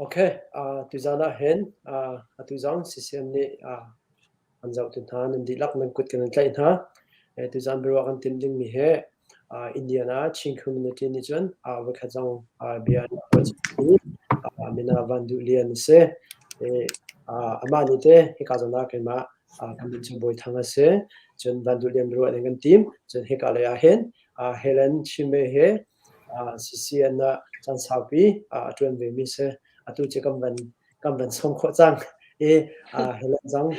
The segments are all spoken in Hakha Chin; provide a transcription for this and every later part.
Okay, uh, tuzan ah hin uh, atu zong CCM nih uh, an zohtu hna nan dihlak nan kut kan tlaih hna. Eh, tuzan biaruah kan tim dingmi he uh, Indiana Chin Community nih cun uh, voikhat zong uh, bia an kuat i uh, mina van duh lian si. Eh, uh, amah nih te hika zona keimah uh, kan bin chu boi thang ase cun van duh lian biaruah ning kan tim cun hika lei ah hin uh, Helen Chime he CCN ah caan saupi a ṭuan vemi si. Atu cu kan van sawm khawh cang i Highland zong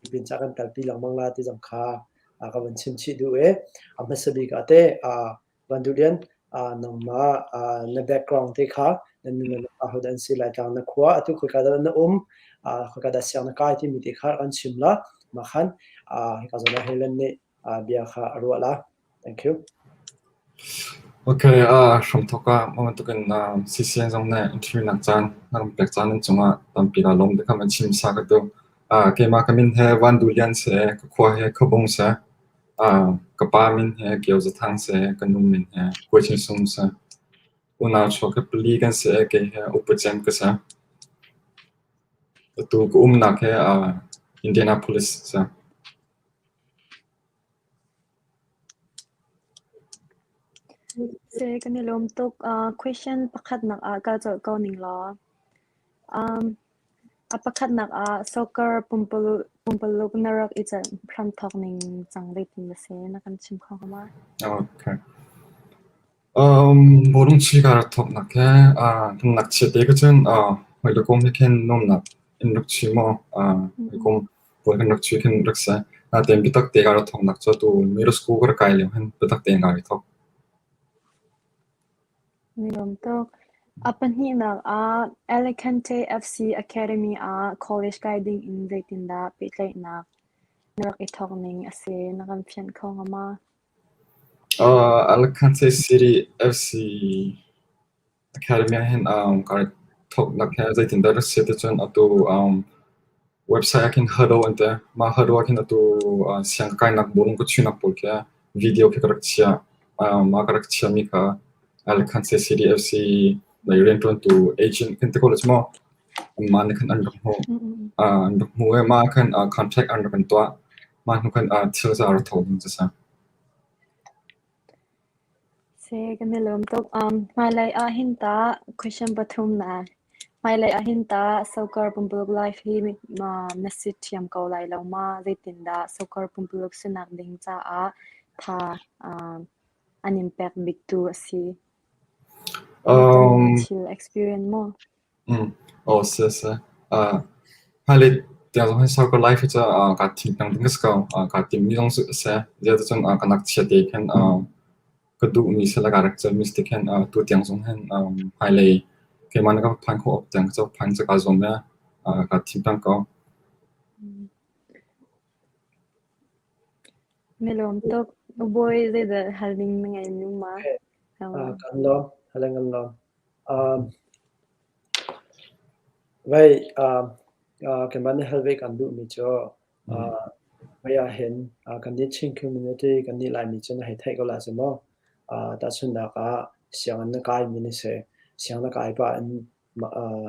tipil ca kan talpi lengmang la ti zong kha ka van chimchih duh i a hmasa bik ah teh Van Du Lian nangmah na background te kha na nu le na pa hodah an si, Laitlang na khua atu khoika dah na um, khoika dah siang na kai timi te kha kan chim la. Mah khan hika zawn ah Highland nih bia kha a ruah la. Thank you. Ok, a hramthok ah mah bantuk in CCN zong nih interview nak caan na ram pek caan an cungah tampi la lawm te kam an chim sa ka tu. Keimah ka min he Van Du Lian se, ka khua he ka bong se, ka pa min he Kio Zathang se, ka nu min he Kua Chin Sung se. Unau cho ka pali kan se ke he upu chen ka se. Tu ka um nak he Indianapolis se. Seh kan i lawm tuk. Uh, question pakhatnak ah kaa colh ko ning law. Um, a pakhatnak ah soccer pumpaluk, pumpaluk na rak i celh hran thawk ning cang zeitin na si? Na kan chim kho hnga ma? Okay. Burungchil ka rak thawknak he kan ngakchia te ka cun hawi le kum he khin nuamnak in rak chui maw hawi kum pawl kan rak chui khin rak si. Natein biatak te ka rak thawknak cu atu middle school ka rak kai lio hin biatak te in ka rak thawk. Mi nuam tuk. A pahnihnak ah Alicante FC Academy ah college kai ding in zeitindah pehtlaihnak na rak i thawk ning a si na kan fianh kho hnga ma? Alakante City FC academy ahhin kaa thawknak hi zeitindah a si ticun atu website ahkhin Huddle an ti. Mah Huddle ahkhin atu siangkainak bawm ka chuihnak pawl khi video khi ka rak chiah. Mah ka rak chiahmi kha Alakante City FC lei rianṭuantu agent kan ti ko le cu maw. Mah nih khan an rak hmuh. An rak hmuh i mah ahkhin contract an rak kan tuah. Mah hnukhan ah thil za a ra kho ding cacang. Se kan i lawm tuk. Um, hmailei ahhin tah question pathum na hmailei ahhin tah soccer pumpuluk live hi ma na si thiam ko lai lo ma? Zeitindah soccer pumpuluk sinak ding caah tha um, an in pek biktu a si? Um, Thil experience maw? Aw seh seh. Uh, hmailei tiang zong hin sau ko lai khi cu uh, kaa thingnang ding a si ko. Uh, kaa timmi zong cu a si. Zeicun uh, ka nak chia te khin uh, ka duhmi sila ka rak cawmi si khin uh, tu tiang zong hin um, hmailei keimah na ka phan khawh awk tiang cu phan cu kaa zuam le uh, kaa thingnang ko. Na lawm tuk. Bawi zeidah hal ding na ngeih nu ma? Uh, kan lawm. Halen kan lawm. Keimah nih hal ve kan duhmi cu mei ahhin kannih Chin community kannih Laimi cu na hei theih ko la cu maw? Tahchunhnak ah sianginn na kaimi na si, sianginn na kai pah in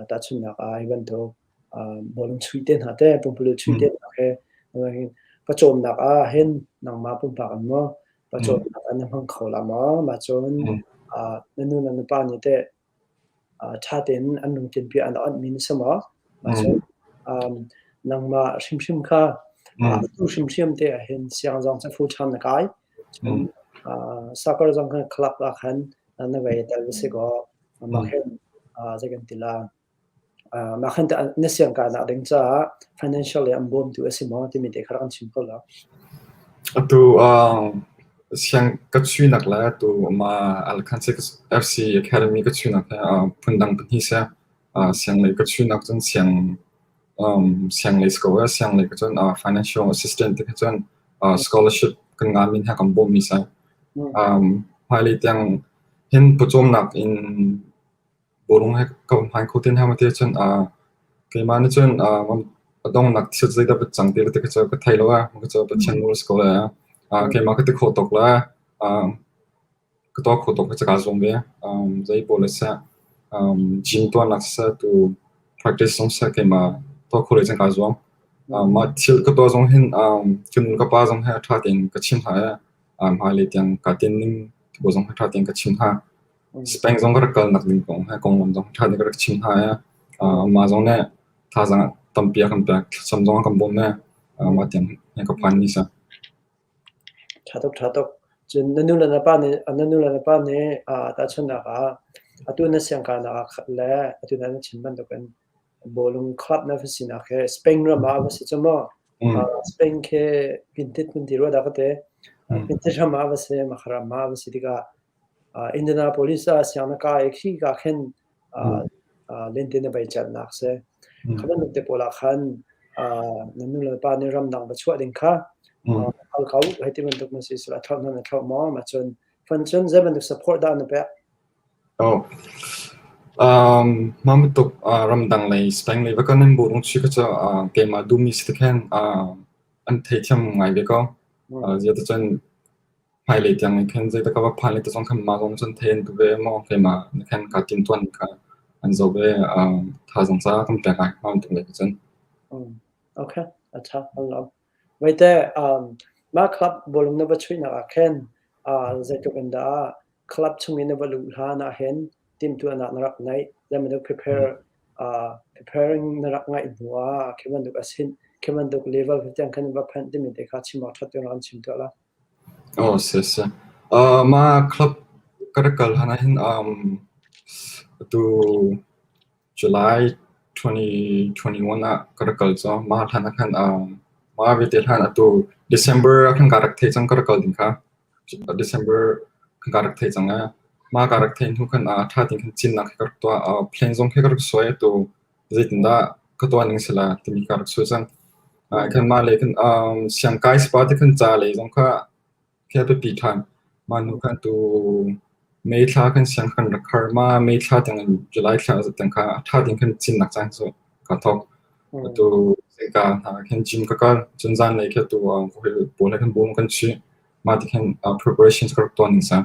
tahchunhnak ah hi bantuk bawm chuih te hna teh pumpululh chuih te hna he pawcawmnak ah hin nangmah pumpak an maw pawcawmnak an hmang kho la maw mah cun na nu le na pa nih teh ṭha tein an lungthin bia an awnh mi na si maw mah cun nangmah hrimhrim kha tu hrimhrim te ah hin siang zong cu fu ṭhan na kai sakar zong khan khalak ah khan na vei tal va si kaw mah hin zei kan ti la Mah khan na siangkahnak ding caah financial le an bawmtu a si maw timi te kha rak kan chim ko la. Atu ka chuihnak le atu Alkan FC Academy ka chuihnak he phundang pahnih si. Sianglei ka chuihnak cun sianglei school le sianglei ka cun financial assistant te kha cun scholarship kan nganmi he kan bawmmi si. Hmailei tiang hin pawcawmnak in Bawlung he ka va hmai kho te hna ma ti ahcun aa keimah nih cun aa a donghnak thil zeidah va cang ti ti ka cu ka thei lo ah ka cu Pathian nawl a si ko lai ah aa keimah ka ti kho tuk la aa ka tuah kho tuk ka kaa zuam ve um zei pawl le seh um gym tuahnak seh tu practice zong seh keimah tuah kho le cang kaa zuam um mah thil ka tuah zong hin um kan nu ka pa zong he a ṭha tein ka chim hna i um hmailei tiang kaa tinning tu zong he ṭha tein ka chim hna Speng zong ka rak kalnak ding kong he konglam zong ṭha deuh ka rak chim hna i mah zong nih thazaang tampi a kan pek, thlacam zong a kan bawm i mah tiang hi ka phan ni sa. Ṭha tuk, ṭha tuk. Cun na nu le na pa nih na nu le na pa nih tahchunhnak ah atu na siangkaunak ah khat le atu na chim bantukin bawlung club va sinak hi Spain ram ah va si cu maw Spain khi pintit nan ti rua dah ka ti. Pintit ram ah va si, makharam ah va si tikah Indianapolis ah sianginn ka i khika khin lentin a beicannak a si. Kha bantuk te pawl ah khan na nu le pa nih ramdang va chuah ding kha hal ko. Hei ti bantuk na si sila a thlauh hnan a thlauh maw? Ma cun fanchun zei bantuk support dah na pek? Mah bantuk ramdang lei Spain lei va kan nan burung chi kha cu keimah duhmi si ti khin an thei thiam ngai ve ko. Ziah ti cun Hmailei tiang nih khan zeidah ka va phan lai ti zong khan mah kong cun theih an ka ve maw keimah nih khan kaa timhtuan ning kha an zoh ve. Um, thazaang ca kan pek ai hma an tum lai ko cun. Um, okay, a tha along. Maite, um, ma club bolong na va chuinak ah khan uh, zeitluk in dah club chungin na va luh hla na hen timtuanak na rak nei lema na prepare uh, preparing na rak ngai hnuah keman duk asin keman duk level tiang kan va phan timi te kha chim ak that ran chim to la Mah club ka rak kal hlan ahhin atu July twenty-one ah ka rak kal cang. Mah hlan ahkhan mah vialte hlan atu December ah kan rak thei cang ka rak kal ding kha. December kan rak thei cang ee. Mah ka rak thei hnu khan ṭha tein cin nak he ka rak tuah. Plane zong he ka rak suai atu. zeitindah ka tuahning sila timi kha rak sui cang. Kanmah le kan siangkai sipa te kan ca le zong kha khi a biapi ṭhan. Mah hnu khan tu May thla kan siang kan rak har. Mah May thla tiangin July thla tiang kha a ṭha ding kan cinnak caan cu ka thawk. Tu zeika hna khin gym ka kal. Cun zan lei khi tu pawl he kan bum kan si. Mah ti khin preparations ka rak tuahning sa.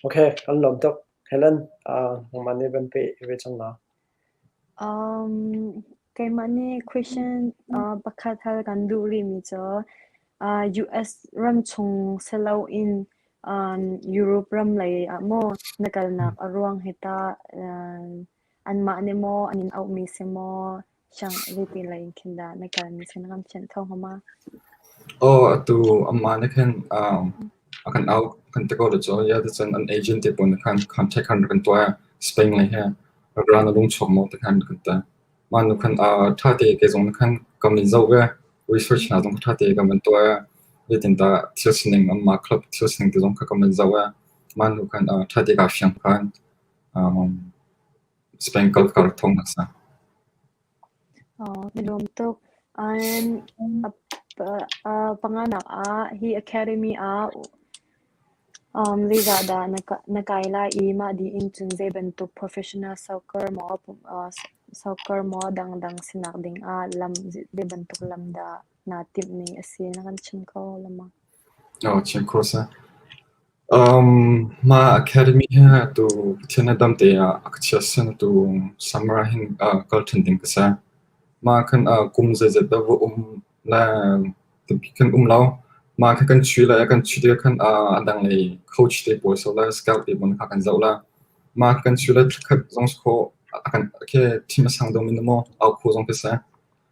Okay, an lawm tuk. Helen, uh, nangmah nih van peh ve cang na. Um, keimah nih question uh, pakhat hal kan duh rimi cu uh, US ram chung selo in um, Europe ram lei ah maw na kalnak a ruang hita uh, anmah ne maw anin auh mi se maw Hrang, zeitin lai in khin dah na kalmi khan kan thianh kho hnga ma? Aw, atu amah nih khan um, a kan au kan ti ko lo cu. Ya ti cun an agent te pawl nih khan contact khan rak kan tuah i Spain lei he ral na lung chuak maw ti khan rak kan tuah. Mah nu khan uh, ṭha te ke zong nih khan kan min zoh ve, research hna zong ṭha te kan van tuah i zeitindah thil sining amah club thil sining te zong kha kan van zoh i mah nu khan uh, ṭha te kaa fiang ṭhan. Um, Spangle ka rak thawng hmasa. Mi nuam tuk. An panganak ah hi academy ah zeizahdah na kai lai i mah dih in cun zeibantuk professional soccer maw soccer maw dangdang sinak ding ah zeibantuk lam dah naa timhmi a si na kan chim kho lengmang? Chim kho seh. Mah academy hi tu Pathian a damte ah a ka chiah sen tu summer ah hin kal ṭhan ding ka si. Mah khan kum zeizat dah va um le tampi kan um lo. Mah kha kan chuih le kan chuih tikah khan a danglei coach te pawl sau le scout te pawl kha kan zoh le mah kan chuih le thlakhat zong khawh a kan thi masang dong mi nu maw au kho zong ka si.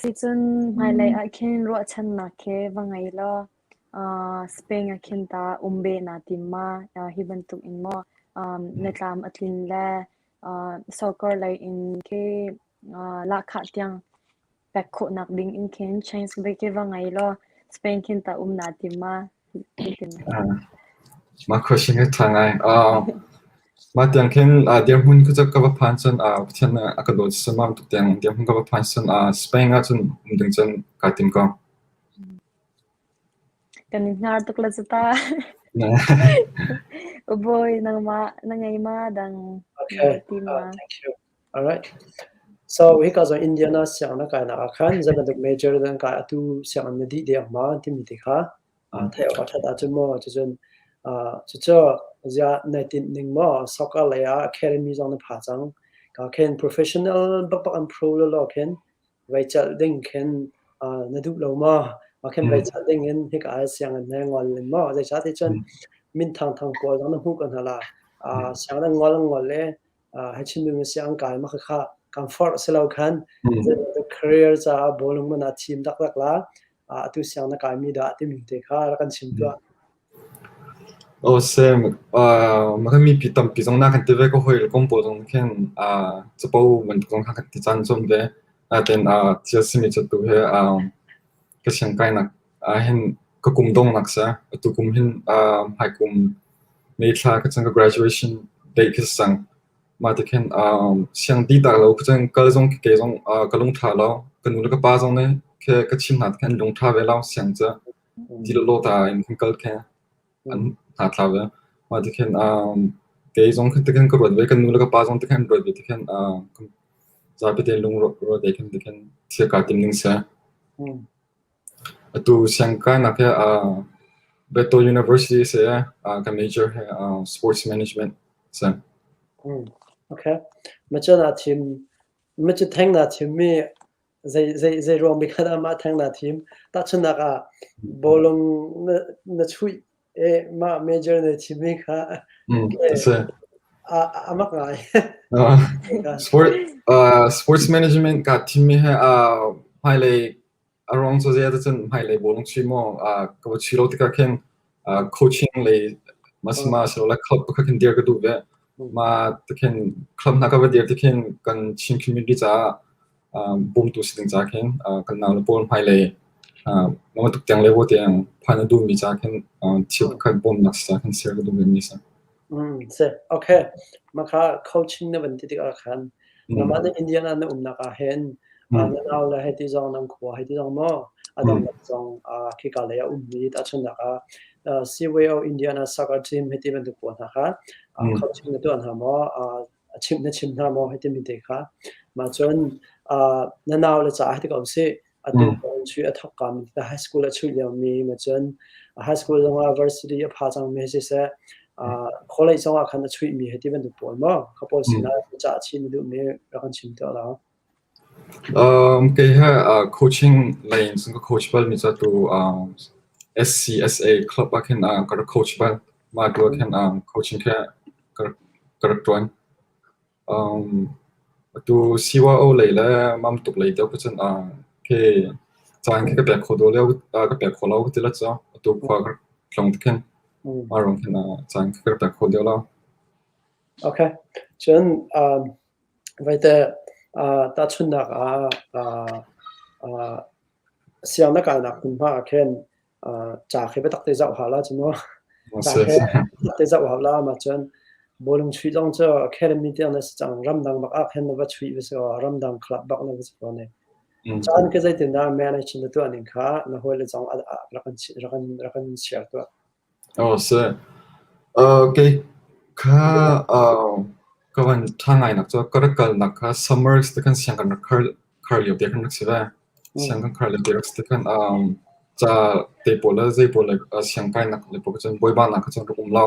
Sicun hmailei ah khin ruahchannak he va ngei law Spain ah khin tah um ve naa tim ma? Hi bantuk in maw na tlam a tlin le soccer lei in ke lahkhah tiang pek khawhnak ding in khin change ve ke va ngei law Spain khin tah um naa tim ma? Mah khuahring hi a ṭha ngai. Mah tiang khin dirhmun cu ka va phan cun Pathian a ka daw ciammam tuk tiang dirhmun ka va phan cun Spain ah cun um ding cun kaa tim ko. Kan i hnar tuk la cu ta. Bawi nangmah na ngei ma dang na ti ma? So hika zong Indiana sianginn a kainak ah khan zei bantuk major dah an kai atu sianginn na dih deng ma timi ti kha theih awk a that ahcun maw cucun cucu ziah nai tinh ning maw soccer lei ah academy zong na pha cang ka khin professional bakbak an pro lolo khin vai chal ding khin na duh lo ma ma khin vai chal ding in hika ai sianginn nai ngol len maw zei sa ti cun min thang thang pawl zong na hmu kan hala sianginn ngol ngol le hai chimmi mi siang kai ma kha kan forh si lo khan career caah bolung man a thim dak dak la atu siang na kai mi da timi te kha ra kan chim tua o sem ma kan mi pi tam pi zong na kan te ve ko hoi kom po zong khen a chapo man zong kha kan ti chan chom ve a ten a thia simi chatu he a ka siang kai nak Ahhin ka kum dongnak sa. Atu kum hin hmai kum May thla ka cang ka graduation date ka cang. Mah ti khin siang di tak lo ka cang kal zong ke zong ka lungṭha lo. Ka nu le ka pa zong nih khe ka chim hna ti khin an lungṭha ve lo siang ca. Ti lawlaw ta in kan kal khe an hna thla ve. Mah ti khin kei zong ti khin ka ruat ve. Ka nu le ka pa zong ti khin ruat ve ti khin zapi te lung ruat ve khin ti khin thil ka tim ning sa. Atu siangkaanak he aa Bethel University a si i aa ka major he aa Sports Management a si. Macun aa thim. Macun theng naa thimmi zei zei zei ruangmi khat ah mah theng naa thim? Tahchunhnak ah bawlung na chuih i mah major na thimmi kha a si. A mak ngai. Sport Sports Management kaa thimmi he aa hmailei A ruang cu zei ah dah cun hmailei bawi na si maw ka va si lo tikah khin coaching lei ma silole club pakhat khin dir ka duh ve. Mah ti khin club hna ka va dir ti khin kan Chin community caah bawmtu si ding ca khin kan nau le pawl hmailei mah bantuk tiang le vaw tiang phan a duhmi ca khin thil pakhat bawmnak si ca khin ser ka duh vemi a si. Seh, okay. Mah kha coaching na van ti tikah khan nangmah nih Indian ah na umnak ah hin, na nau le hei ti zong nan khua hei ti zong maw, a dangdang zong khika lei ah ummi tahchunhnak ah Seaway of India na soccer team hei ti bantuk pawl hna kha coaching na tuah hna maw? a chimh na chim hna maw hi timi te kha mah cun na nau le caah hi ti ko sih atu mm. chu a thok kam ta high school a chuih lio mi ma cun high school zongah varsity a pha cang mi si se college zongah khan a chuih mi hi ti bantuk pawl maw ka pawl si na ca chin duh mi rak an chim to lo Kei he coaching lei in cun ka coach bal mi cu atu SCSA club ah khin ka rak coach bal. Mah tu ah khin coaching khi ka rak ṭuan. Atu CYO lei le mamtuk lei deuh cun khi caan khi ka pek kho dawh lio ka pek kho lo ka ti la cu. Atu khua ka rak tlung tik hin mah ruang khin caan khi ka rak pek kho deuh lo. Okay. Cun Vaiteh tahchunhnak ah siang na kalnak hmunhma ah khin ca khi biatak te zoh hau la cu maw. Ca khi biatak te zoh hau la ma cun bawlung chuih zong cu academy tiang na si cang. Ramdang bak ah khin na va chuih va si kaw ramdang club bak na va si kaw ne. Caan khi zeitindah manage na tuah ning kha na hawi le zong rak in share tuah. Kei kha ka van ṭha ngainak cu ka rak kalnak kha summers ti khan siang kan rak khar lio te khan rak si ve. Siang kan khar lio te rak si tikhan ca te pawl le zei pawl le siang kainak le pawl kha cun bawiba nak kha cun rak um lo.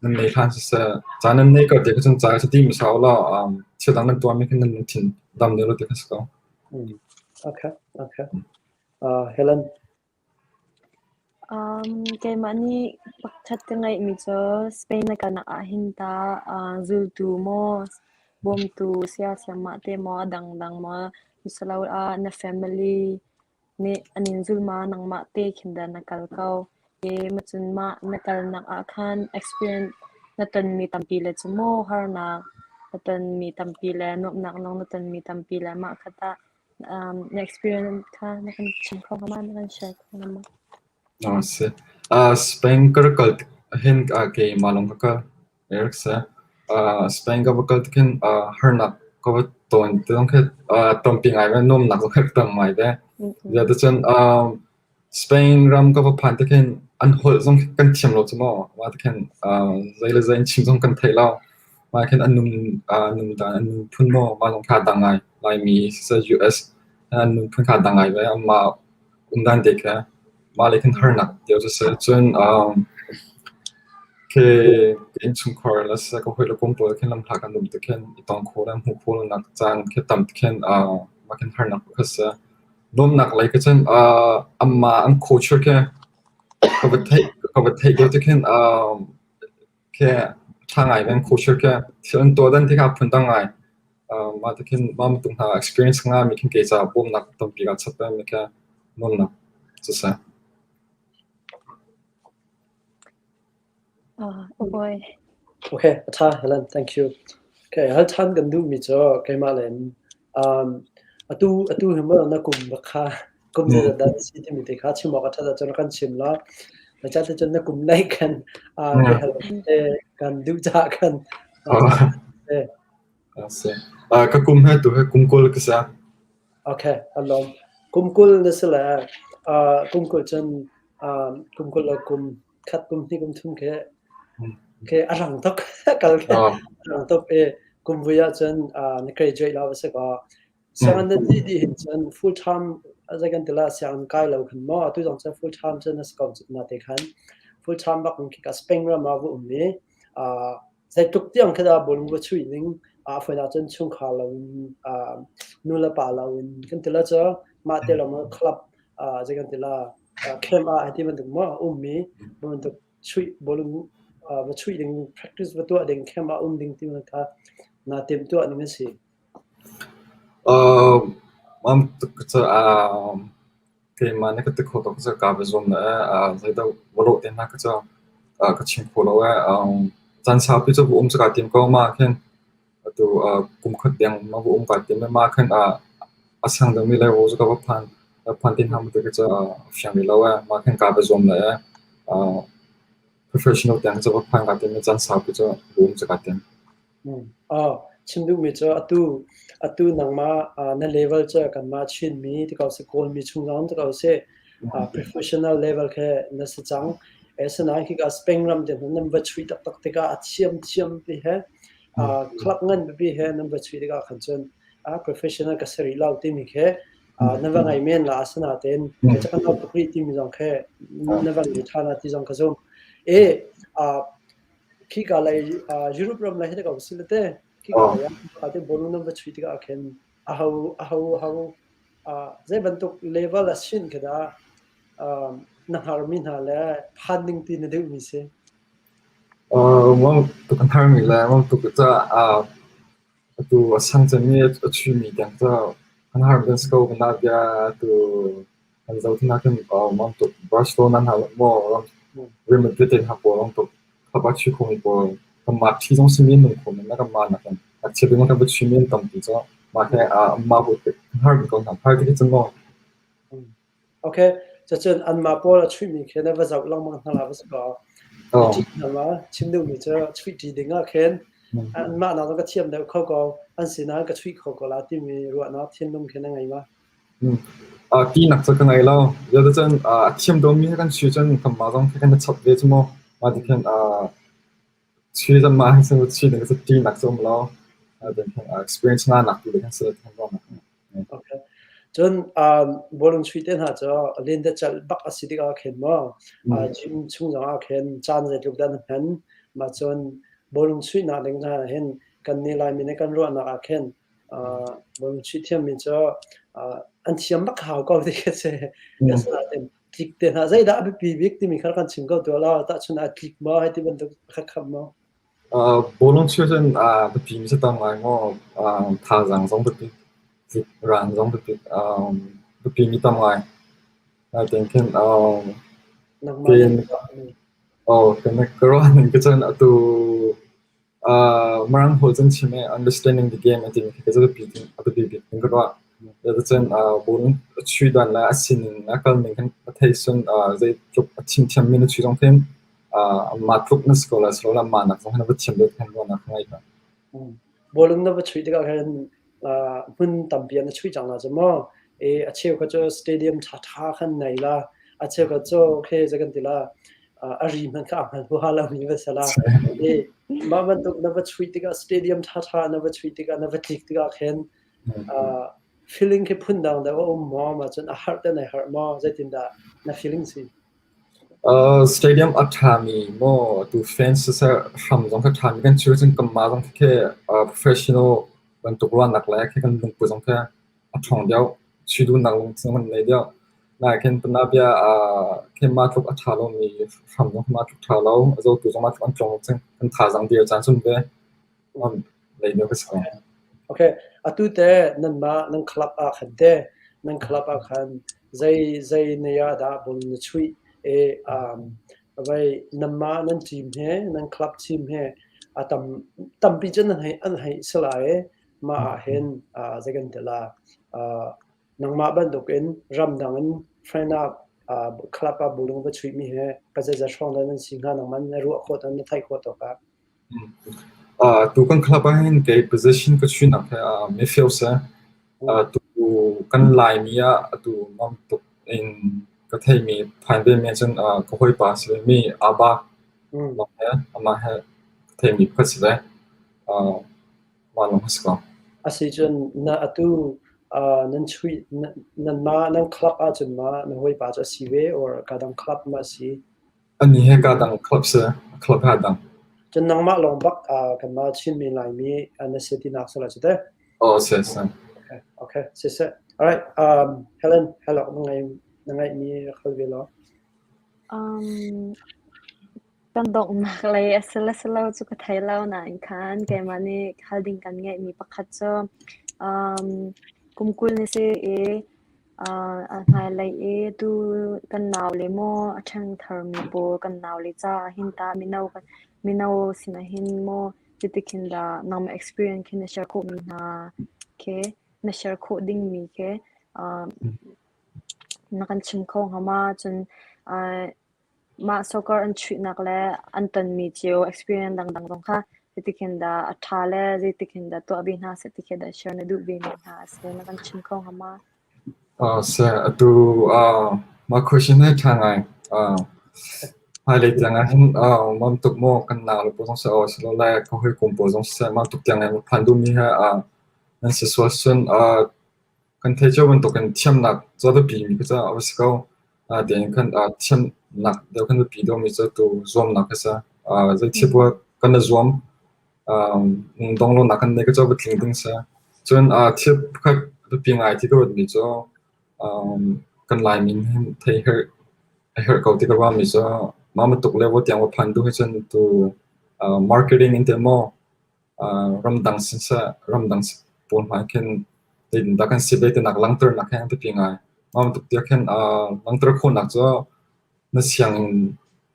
Nan nei hlah siseh. Ca nan nei ko tiah cun ca ka ṭi hmasa u law um, thil dang nan tuahmi kha nan thin dam deuh lo ti ka si ko. Mm. Okay, okay. Uh, Helen, Um, keimah nih pakhat ka ngeihmi cu Spain na kanak ah hin ta uh, zultu maw bawmtu siasiam mah te maw dangdang maw misalo ah na family nih an in zulma nangmah te khin dah na kal ko e macun mah na kalnak ah khan experience na tonmi tampi le cu maw harnak na tonmi tampi le nuamhnak lawng na tonmi tampi le mah khat ah um, na experience kha na kan chim kho hnga na kan share kho hnga ma? Na si. Uh, Spain ka kal hin uh, ke malong ka kal. Spain ka va kal tik hin harnak ka va tawn ti zong khi tampi ngai ve nuamnak zong khi ka tang ngai ve. Ziadacun Spain ram ka va phan tik hin an holh zong kan thiam lo cu maw mah tik hin zei le zei an chim zong kan theih lo. Mah khin an nundan an nunphun maw mah zong kha a dang ngai. Laimi US an nunphun kha a dang ngai ve mah umdan te kha. Mah le kan harnak cio cu a si. Cun khi ka innchungkhar le siseh ka hawi le kum pawl khin lamhla kan um tikhin i tongkho le hmuhphul nak caan khi tam tikhin mah kan harnak pakhat a si. Nuamnak lei ka cun amma an khawchir khi ka va theih ka va theih lio tikhin khi ṭha ngai in khuhchir khi thil an tuah dan ti kha phundang ngai. Mah ti khin mah matung hna experience nga mi khin kei caah bawmnak tampi ka chap ve mi kha nuamnak cu si. Oi. Okay, a ṭha Helen, thank you. Okay, hal ṭhan kan duh mi cu keimah le in Atu atu hi maw na kum na kha kum zeizat dah na si timi te kha chim awk a ṭhat ahcun kan chim la. Zeicah ticun na kum lei kan biahal te kan duh caah kan ka kum he tu he kum kul ka sa. Okay, alom. Kum kul na si le kum kul cun kum kul le kum khat kum hnih kum thum khi khi a rang tuk kal khi a rang tuk i kum vui ah cun na graduate la va si kaw sianginn nan ti di hin cun full time zai kan tila sianginn kai lo khan mo atu zong cun full time cun na si ko cun na te khan full time bak khi ka spring ram ah vu um i Zeitluk tiang khi dah bawlung va chuih ning ah fawinak cun chungkhar loin uh, nu le pa loin kan ti la cu mah te lawng club uh, zei kan ti la uh, camp ah ti bantuk mo ummi bantuk chuih bawlung uh, va chuih ding practice va tuah ding camp ah um ding ti man kha na tem tuah ning asi um am Keimah na ka ti kho tuk cu kaa va zuam le eh zeidah va lawh te hna kha cu eh ka chim kho lo eh. Caan saupi cu va um cu kaa tim ko mah khin atu kum khat deng mah va um kaa tim le mah khin a sang deuhmi level cu ka va phan phan ti hna maw ti kha cu fiang rih lo eh. Mah khin kaa va zuam le eh professional tiang cu va phan kaa tim le caan saupi cu va um cu kaa tim. Chim duhmi cu atu atu nangmah na level cu kanmah Chinmi ti ko seh, Kawlmi chung zong ti ko seh professional level khe na si cang. Asinain khika Spain ram te hnu nan va chuih taktak tikah a thiamthiam ti he club ngan pipi he nan va chuih tikah khan cun professional ka si rih lo timi khe na va ngei men la. Asinain kei cu ka no tuk rih timi zong khe na va ngei ṭhan ti zong ka zum. Khika lei Europe ram lei hi dah ko si le te khika lei ah khika te bonung nan va chuih tikah ah khin a ho a ho a ho zei bantuk level a sin khi dah na hngarmi hna le phan ding ti na duhmi si? Mong tuk an thar mi le mong tuk ca atu a san cem mi a chuimi tiang ca an har kan si ko kana bia atu Kan zohtin ahcun aa nuam tuk. Barcelona hna zong maw Real Madrid te hna pawl a um tuk. Habachi khung i pawl kanmah thi zong si men nung khawh men le kanmah nakin a chiat ding kan va chuih men tampi cu mah he aa amah bu tuk har ko hna. Har ti cun maw Ok, cucun anmah pawl a chuihmi khin a va zoh lengmang hna la va si kaw. Ka oh, ṭih ding ah, Chin duhmi cu chuihṭi ding ah khin mm, anmah nak zong ka thiam deuh kho ko, an sinah ka chuih kho ko la timi ruahnak thinlung khin a ngei ma? Tinak cu ka ngei lo. Zeticun a thiam dawmi he kan si cun kanmah zong khi kan i chawnh ve cu maw. Mah ti khin chi zan mah he cun chi ding cu tinak cu a um lo. Experience nganak tu ding he cun kan ruahnak a ngei. Okay. Cun bawlung chuih te hna cu lentecelh bak a si tik ah khin maw gym chung zong ah khin caan zeitluk dah na hman. Mah cun bawlung chuihnak ding hna hin kan nih Laimi nih kan ruahnak ah khin Mangṭhi thiammi cu an thiam bak hau ko ti khi a si. Asinain tlik te hlah, zeidah a biapi bik timi kha kan chim ko tuah law tahchun aa tlik maw hei ti bantuk pakhat khat maw? Bawlung cheu cun biapi mi cu tam ngai maw? Thazaang zong biapi, ran zong biapi, biapi mi tam ngai. Naitein khin pen, oh, pen ka ruah ning cu cun atu Marang hol cun chim i understanding the game a timi khi ka zapi bik in ka ruah. Cuticun bung a chuih don le a sining a kalning kan thei sun zeitluk a thimthiammi na chuih zong hin mah tluk na si ko lai silo le mah nak zong hi na va thiam deuh khan ruahnak ka ngei ko. Bawlung na va chuih tikah khan hmun tampi an chuih cang la cu maw e a cheu kha cu stadium tha tha khan nei la a cheu kha cu okay za kan ti la a ri man kha a hman hu ha la mi va sala e mah man tuk na va chuih tikah stadium tha tha na va chuih tikah na va tlik tikah khen feeling ke phun dang da um mo ma chun a har te nei har mo zeitin da na feeling si Stadium a ṭhami maw tu fans siseh hram zong kha ṭhami kan si lo cun kanmah zong khi professional bantuk ruahnak le khi kan lungput zong khi a ṭhawng deuh. Si duhnak zong kan ngei deuh. Nain kanmah bia kanmah tluk a ṭha lomi hram zong kanmah tluk ṭha lo. A zotu zong mah tluk an tlawng cang. Kan thazaang dir a caan cun ve. Okay, atu te nanmah nan club ah khan te nan club ah khan zei zei ne ah dah bun na chuih e um vai nanmah nan team he nan club team he a tam tampi cun an hei an hei sala e mah ah hin uh zei kan tela uh nangmah bantuk in ramdang in friend uh club ah bulung va chuih mi he ka zei za strong dan an si nga nang man na ruah khot an na thai khot to ka Tu kan club ahhin kei position ka chuihnak hi midfield si. Tu kan Laimi ah atu mam tuk in ka theihmi phain ve mi ahcun ka hawipa si ve mi Aba lawng he amah he ka theihmi pakhat si ve. Mah lawng a si ko. Asicun na atu nan chuih nan ma nan club ahcun ma na hawipa cu a si ve or ka dang club ma a si? Annih he kaa dang a khalh seh, a khalh hna dang. Cun nangmah lawng bak ah kanmah chin mi Laimi na si tinak sal a si te. Oh, si si. Okay, okay, si si. All right, um, Helen, hello, na ngai na ngai mi khal ve lo. Um, kan donghnak lei asala salo cu ka thai lo na in khan keimah nih khal ding kan ngai mi pakhat cu um kumkul ni si i a hmailei i tuu kan nau le maw a ṭhangtharmi pawl kan nau le caah hin tah mino kan mino sinah hin maw cuti khin dah nangmah experience khi na share khawhmi hna khi na share khawh dingmi khi na kan chim kho hnga ma cun Mah soccer an chuihnak le an tonmi cio experience dangdang zong kha zeitikhin dah a ṭha le zeitikhin dah tuah ve hna seh ti khi dah share na duh vemi hna a si na kan chim kho hnga ma? Seh atu mah question hi ṭha ngai hmailei tiang ah hin mam tuk maw kan nak le pawl zong si awk a si lo lai ka hawikom pawl zong seh mam tuk tiang in phan duhmi hi nan si sual sun. Kan thei cio bantukin thiamnak cu a biapi mi cu caah a va si ko. Natein kan thiamnak deuh kan biapi deuhmi cu tu zuamnak a si. Zeithil buah kan i zuam, dong lonak kan neih cu a va tling ding a si. Cun thil pakhat a biapi ngai ti ka ruatmi cu kan Laimin hin thei a herh ko ti ka ruahmi cu mah bantuk le tiang va phan duh he cun tu marketing in teh maw ramdang siseh ramdang pawl hmai khin tinda kan si ve tinak langter nak he an biapi ngai mah bantuk tiah khin langter khawhnak cu na sianginn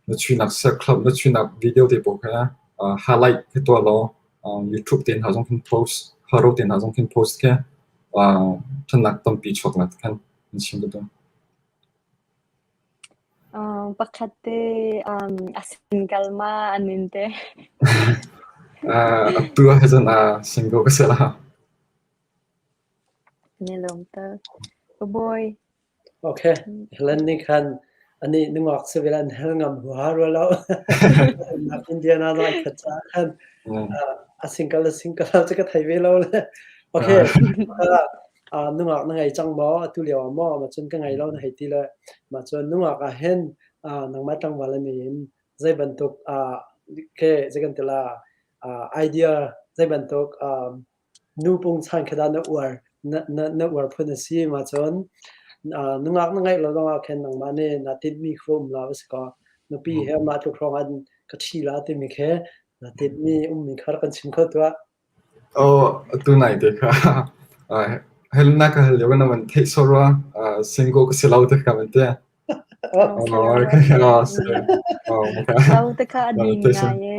na chuinak set club na chuinak video te pawl kha highlight ke tua law youtube te hna zong khin post haro te hna zong khin post ke thanak tampi chuak nak khan an sim tu Pakhat te a sin kalma an in te. Atu ah cun sin ko ka seh la. Nelawm tuk. Ka bawi. Ok, Helen nih khan ani nungak se vel an hel ngam hua rua lo. Nak Indiana lo an khat cha khan a sin kal a sin kal cu ka thei ve lo le. Ok, ah nungak na ngei cang maw atu lio ah maw ma cun ka ngei lo na hei ti le mah cun nungak ah hin ah nangmah tlangval in in zei bantuk ah ke zei kan tila ah idea zei bantuk um, nu pung chan khada na uar na na, na uar phun a si ma cun ah nungak na ngeih lo lawngah khen nangmah ne na tit mi khu um la bas ko nupi he ma tu krong an ka thi la ti mi khe na tit mi um mi khar kan chim kho tua Aw, atu nai te kha helnak ka hal lio na van theih sawh rua single ka si lo te kha van ti. Sau te kha ani ngai e.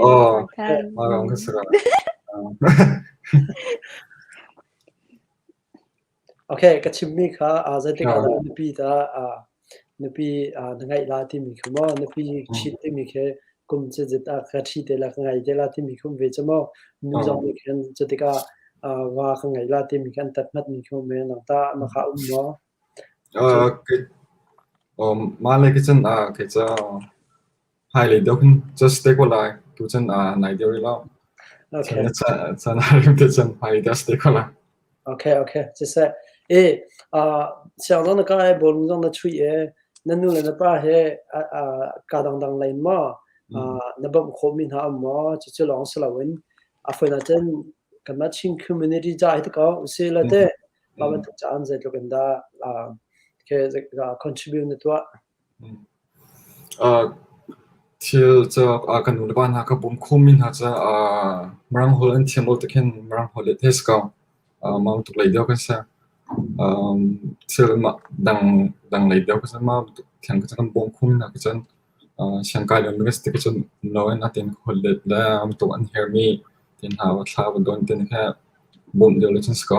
Aw, ka si lo. ka chimmi kha zeitik ah dah nupi dah nupi na ngeih la timi kha maw nupi ṭhit timi khi kum cizit ah ka ṭhi te la ka ngei te la timi khi um ve cu maw nu zong nih khin cutik ah va ka ngei la timi khi an tat ngatmi khi um ve nang tah na kha um maw? Mah le kicun kei ca Hmailei deuh khin cu stay ko lai. Tuchan ah nai deuh rih lo. Okay. Na caan caan a rim te cun hmailei deuh stay ko lai. Okay, okay. Siseh. E, uh, siang dong na ka e bolung dong na chui e, na nu le na pa he ka dangdang lain ma, na bam kho mi hna am ma, cu cu long salawin. A foi na cen, kan ma chin community ja hi tako, usi la te, ma ban tu caan zeitluk inda, okay, contribute na tua. Thil cu kan nu le pa hna kha bawm khawhmi hna cu Mirang holh an thiam lo tik hin Mirang holh hi a thei a si ko. Mah bantuk lei deuh kha a si. Thil dang lei deuh kha a si. Mah bantuk theng kha kan bawm khawhmi hna kha cun siangkai lomi kan si tikah cun no in a tein holh let le an tuk an hermi tein hla va thla va don tein kha bawmh lio le cun a si ko.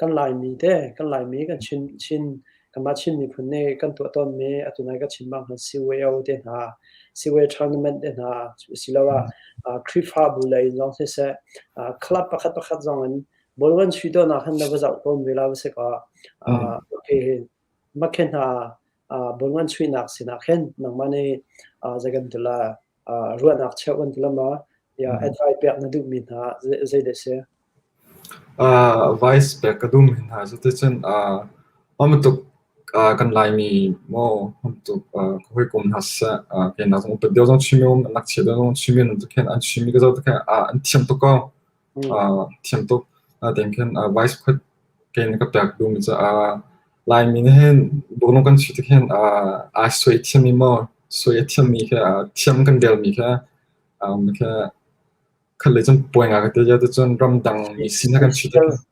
kan Laimi te kan Laimi kan Chin Chin kanmah Chin miphun nih kan tuah tawnmi atu nai kan chim bang khan CYO te hna CYO tournament te hna asiloah Khrihfabu lei in lawng siseh club pakhat pakhat zong in ball van chuih dawhnak khan na va zoh tawn ve la va si kaw mah khi hna uh, bun ngan sui nak sin ah khen nang ma ne uh, za kan tula uh, ruan ak cheu an tula ma ya advice pek na du mi na zai de se uh, vice pek ka dum na zu te chen uh, am tuk uh, kan lai mi mo am tuk uh, hoi kum na sa uh, ke na zong pe de zong chimi om nak che de zong chimi na to ken an chimi ka zo to ken uh, an thiam to ko thiam tuk. Tiang khin vice khuat kein na ka pek duhmi caah Laimi nih hin burnung kan si tik hin aa sui thiammi maw sui a thiammi kha thiam kan velmi kha kha le cun puai nga ka ti cun ramdang mi sin kan si tik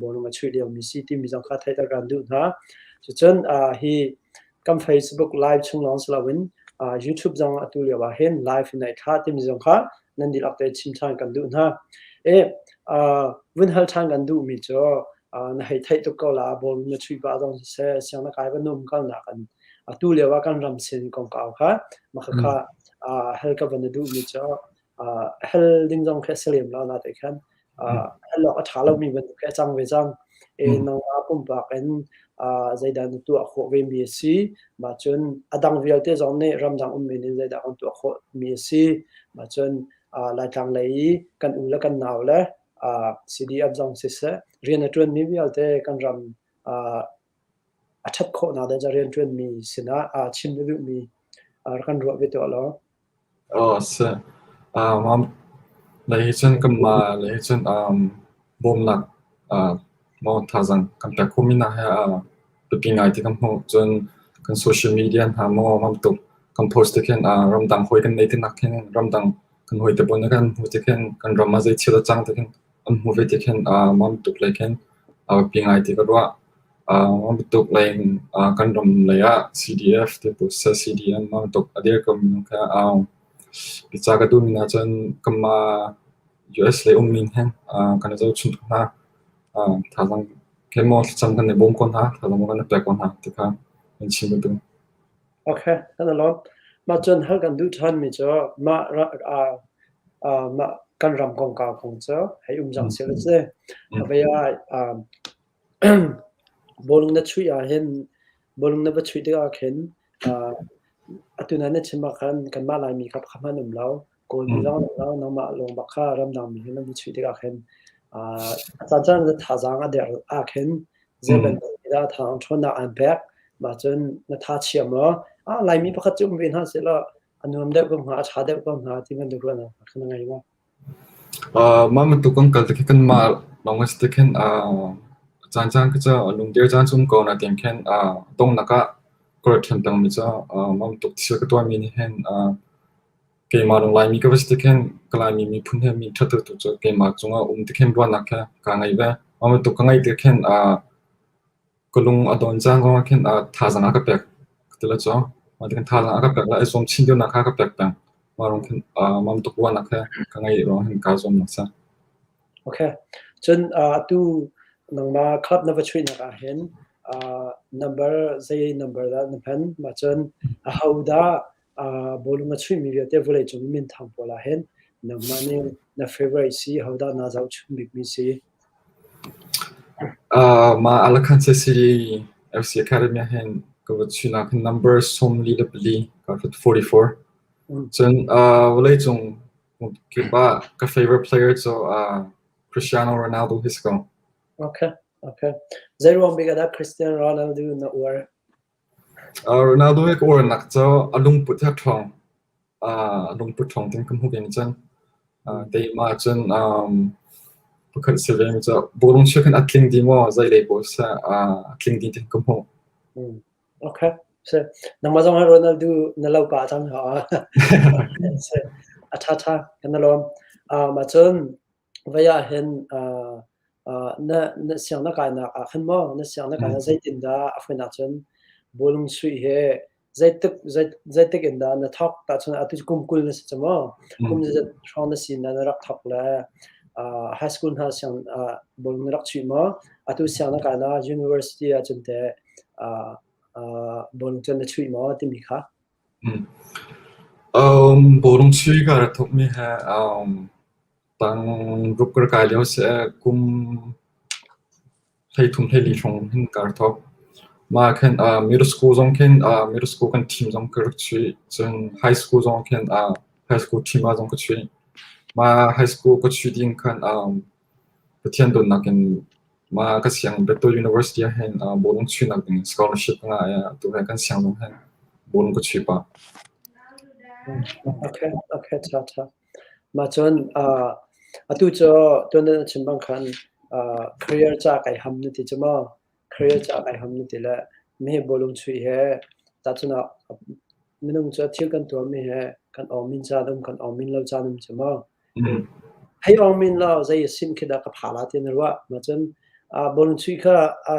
bawlung a chuih liomi si timi zong kha theih a kan duh hna. Cucun hi kan Facebook live chung lawng si loin YouTube zong atu lio ah hin live in ai thla timi zong kha nan dihlak te chim ṭhan kan duh hna. Vun hal ṭhan kan duhmi cu na hei theih tuk ko la bawlung na chuih pah zong siseh siang na kai va num kalnak an atu lio ah kan ram sin kongkau kha makha hal ka van na duhmi cu uh, hel ding zong khi a si lem lo na te khan uh, hel awk a ṭha lomi bantuk khi a cang ve cang e mm. nangmah pumpak in uh, zeidan na tuah khawh ve mi a si ma cun a dang vialte zong nih ramdang um men in zeidah kan tuah khawh mi a si ma cun uh, laitlang lei i kan u le kan nau le uh, CDF zong siseh rian a ṭuan mi vialte kan ram uh, a ṭhat khawhnak ding ah rianṭuanmi sinah aa chim na duhmi rak kan ruah ve tuah law. Oh si. Um, lei hi cun kan mah lei hi cun um, bawmnak uh, maw thazang kan pek khumi na he uh, biapi ngai ti kan hmuh cun kan social media hna maw mamtuk kan post ti khin uh, ramdang hoi kan nei ti nak hin ramdang kan hoi te bon kan hmu ti khin kan ram a zei thil cang ti khin An hmuh ve ti khin aa nuam tuk lei khin a biapi ngai ti ka ruah. Aa nuam tuk lei in aa kan ram lei ah CDF ti bu sa CDM nuam tuk a dir ko minung kha aung. Bica ka duh mi hna cun kanmah US lei um mi heng aa kan i zohchunh ko hna. Aa thazaang khe maw thlacam kan i bawm ko hna, thazaang maw kan i pek ko hna ti kha kan chim ka duh. Okay, kan alawm. Mah cun hal kan duh ṭhanmi cu mah mah kan ram kongkau kong cu hei um cang sil a si. Avei ah bawlung na chuih ahhin bawlung na va chuih tikah khin atu na na chim ahkhan kanmah Laimi kha kha hmanh um lo. Kawlmi lawnglawng nangmah lawngba kha ramdangmi he nan chuih tikah khin a cancaan na thazaang a der ahkhin zeibantuk dah thawng ṭhawnnak aan pek mah cun na tha thiam law Laimi pakhat cu um ve hna sehlaw a nuam deuh ko hnga a ṭha deuh ko hnga ti bantuk ruahnak khin na ngei maw? Mah bantuk kan kal tikhin kanmah lawng a si tikhin cancaan kha cu lungdir caan cu um ko na tiang khin donghnak ah ka rat ṭhan pengmi cu mah bantuk thil ka tuahmi nih hin Keimah ram Laimi ka va si tik hin ka Laimi miphun he mi ṭhat tu cu keimah cungah a um tik hin ruahnak he kaa ngei ve. Mah bantuk ka ngeih tik hin ka lung a dawn cang ruang ah khin thazaang a ka pek ka ti le caw. Mah tik hin thazaang a ka pek le i zuam chin tionak kha a ka pek peng. Mah ruang khin mah bantuk ruahnak he ka ngeih ruang hin kaa zuam nak sa. Ok. Cun atu nangmah club na va chuihnak ah hin number zei number dah na hman? Mah cun ahodah bawlung a chuihmi vialte vawleicung i minthang pawl ahhin nangmah nih na favorite si hodah naa zohchunh bikmi si? Mah Alakhanse City FC Academy ahhin ka va chuihnak hin number sawmli le pali ka hrut 44. Cun vawleicung kipah ka favorite player cu Cristiano Ronaldo hi si ko. Okay, okay. Zeiruang bik ah dah Cristiano Ronaldo na uar? Ronaldo hi ka uarnak cu a lungput hi a ṭhawng. Aa lungput ṭhawng tein ka hmuh ve cang. Aa keimah ahcun um pakhat si ve cu bawlung chia khan a tling dih maw zeilei paoh seh aa tling dih tein ka hmuh. Okay. Si. Nangmah zong hi Ronaldo na lo pa cang hna. Si. A ṭha ṭha kan i lawm. Um ahcun Vai ahhin aa aa na na siang na kainak ah khan maw na siang na kainak zeitindah a hmuinak cun bawlung suih hi zeitik zei- zeitik in dah na thawk tahcun atu kum kul na si cu maw? Kum zeizat hrawng na si na na rak thawk le aa high school hna siang aa bawlung na rak suih maw? Atu siang na kainak university ahcun teh aa aa bawlung cun na chuih maw timi kha? Bawrungsi ka rat thokmi he tang ruk ka rak kai lio seh kum hleithum hleili hrawng hin ka rak thok. Mah ah khin middle school zong khin middle school kan team zong ka rak chuih. Cun high school zong khin high school team ah zong ka chuih. Mah high school ka chuih ding khan Pathian dawtnak in mah kan siang Bethel University ah hin ah bawlung chuihnak ding in scholarship a ngah i atu he kan siang zong hin bawlung ka chuih pah. Okay, okay, tha tha. Mah cun uh, atu cu tuan a chim bang khan uh, career ca kai ham na ti cu maw? career cu a kai ham na ti le meheh bawlung chuih he tahchun ah minung cu a thil kan tuahmi he kan awmin caan um kan awmin lo caan um cu maw hei awmin lo zei a sim khi dah ka phala ti na ruah ma cun bawlung chuih kha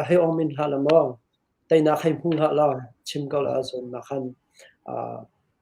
hei awmin hlah la maw teinak hei hmu hlah la chim ko la cun na khan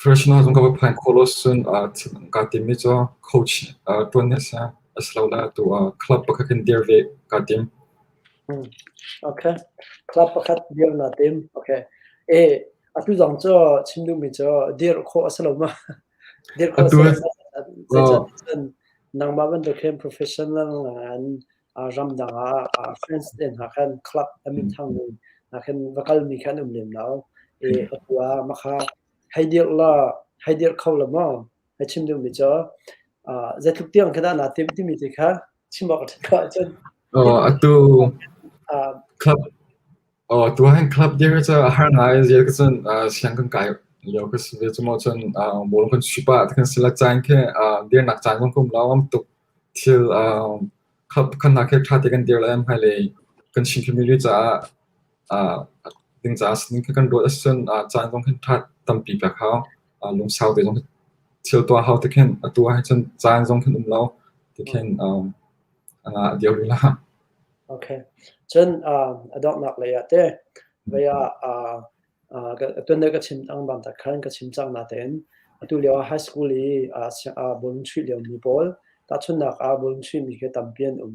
Krishna zong kan va phan khawh lo ahcun ka timmi cu coach ṭuan hi a si asilole atu club pakhat kan dir ve kaa tim. Okay. Club pakhat dir naa tim. Okay. Atu zong cu chim duhmi cu dir khawh a si lo ma? Dir khawh a si lo ma? Zeicah cun nangmah bantuk hin professional ngan ramdang ah France te hna khan club a minthang mi hna khan va kalmi kha an um lem lo i atu ah makha hei dirh la hei dirh kho la maw hei chim duhmi cu zeitluk tiang kha dah naa timh timi ti kha chim awk a ṭhat lo ahcun oh atu club Oh, tuahin club dia ka ca har ngai zia ka cun siang kan kai lio ka si ve cu mo cun bol kan supa ta kan sila chan ke dir nak chan kan kum law am tuk thil club kan na ke tha te kan dir la am hai le kan shin family ca ding ca sin kan do sun chan kong kan tha tampi pa khao lung sau te zong thil tua hau te khen atua hai cun chan zong kan um lo te khen uh, deuh la. Okay. Cun uh, a donghnak lei ah te vai ah uh, uh, tuan dai ka chim ang bam tak khan ka chim chang na ten atu leo high school i uh, uh, bulun chui leo mi pawl ta chun nak a bulun chui mi ke tampian um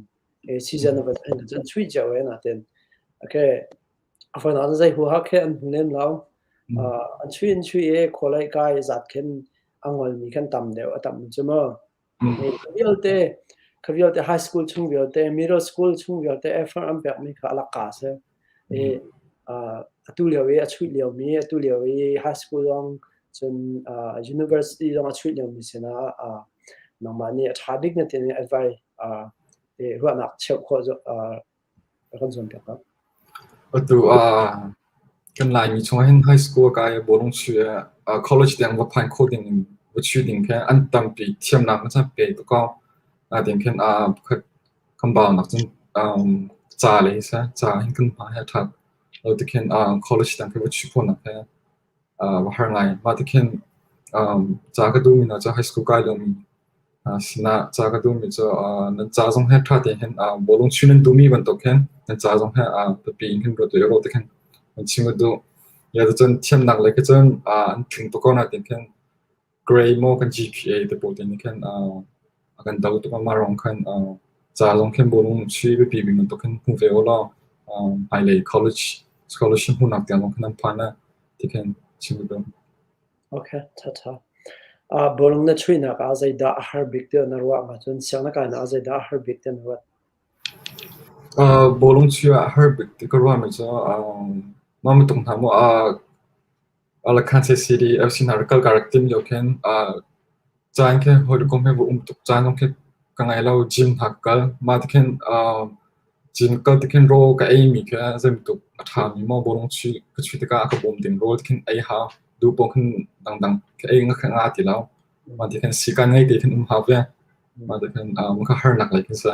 e season of an jan chui jaw e na ten okay afon an zai hu ha khe an hunem lao an chui in chui e kholai kai zat khen angol mi kan tam deu atam chumo Ka vialte, ka vialte high school chung vialte, middle school chung vialte effort an pekmi kha alaka a si. I atu lio i a chuih liomi, atu lio i high school lawng cun university lawng a chuih liomi sinah nangmah nih a ṭha bik na timi advice ruahnak cheuh khawh Atu ah kan Laimi chungah hin high school a kai i bawlung chuih ah college tiang va phain khawh ding in va chuih ding khi an tampi thiamnak hmasa pe tuk ko. Natin khin pakhat kan bau nak cun ca le hi sa ca hin kan hma he a ṭhat. Lo tikhin college tiang khi va chuih khawh nak hi a har ngai. Mah ti khin um ca ka duhmi hna cu high school kai lomi uh, sinah ca ka duhmi cu uh, nan ca zong he ṭha tein hin uh, bawlung chuih nan duhmi bantuk hin nan ca zong he uh, biapi in hin ruat ui ro ti khin an chim ka duh. Ya cun thiamnak lei kha cun uh, an tling tuk ko natin khin grey maw kan GPA te pawh te nih khan uh, a kan do tuk ama rong khan uh, ca long khan bu rung chi bipi bing to khan hmu ve ola um hmailei college scholarship hmunak tiang long khan an phan na ti khan chim do okay ta ta a bolong na chui na ka zai da har big te na ruwa nga chun siang na ka na zai da har big te na ruwa uh bolong chi a har big te ka ruwa me cha um mama tung na mo a Alakhanse City FC hna rak kal ka rak tim lio khin caan khin hawikom he um tuk caan zong khi ka ngei lo gym hna ka kal mah ti khin gym kal ti khin rawl ka ei mi khi zeibantuk a ṭha mi maw bawlung chuih ka chuih tikah a ka bawm ding rawl ti khin ei hau duh paoh khin dangdang ka ei nga kha nga ti lo mah ti khin sikan ngei te khin um hau ve mah ti khin ka harnak lei khin si.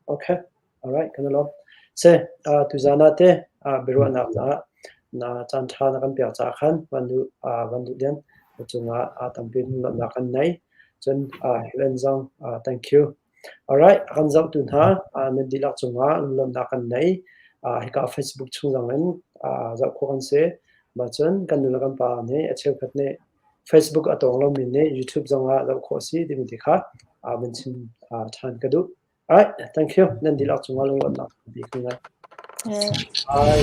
Okay, alright, kan alawm. Se, uh, tuzaan ah te uh, biaruahnak caah na caan ṭha na kan pek caah khan van du uh, van du den cungah uh, tampi nunnak kan nei. Cun uh, UN zong uh, thank you. Alright, kan zohtu hna uh, na dihlak cungah nunnak kan nei. Uh, hika Facebook chung zong in uh, zoh khawh kan se. Ma cun kan nula kan pa nih a cheukhat nih Facebook a tawng lomi nih YouTube zongah zoh khawh a si timi ti kha vun chim ṭhan ka duh. Alright, thank you. Nan dihlak cungah lungruatnak tampi ka ngei. Bye.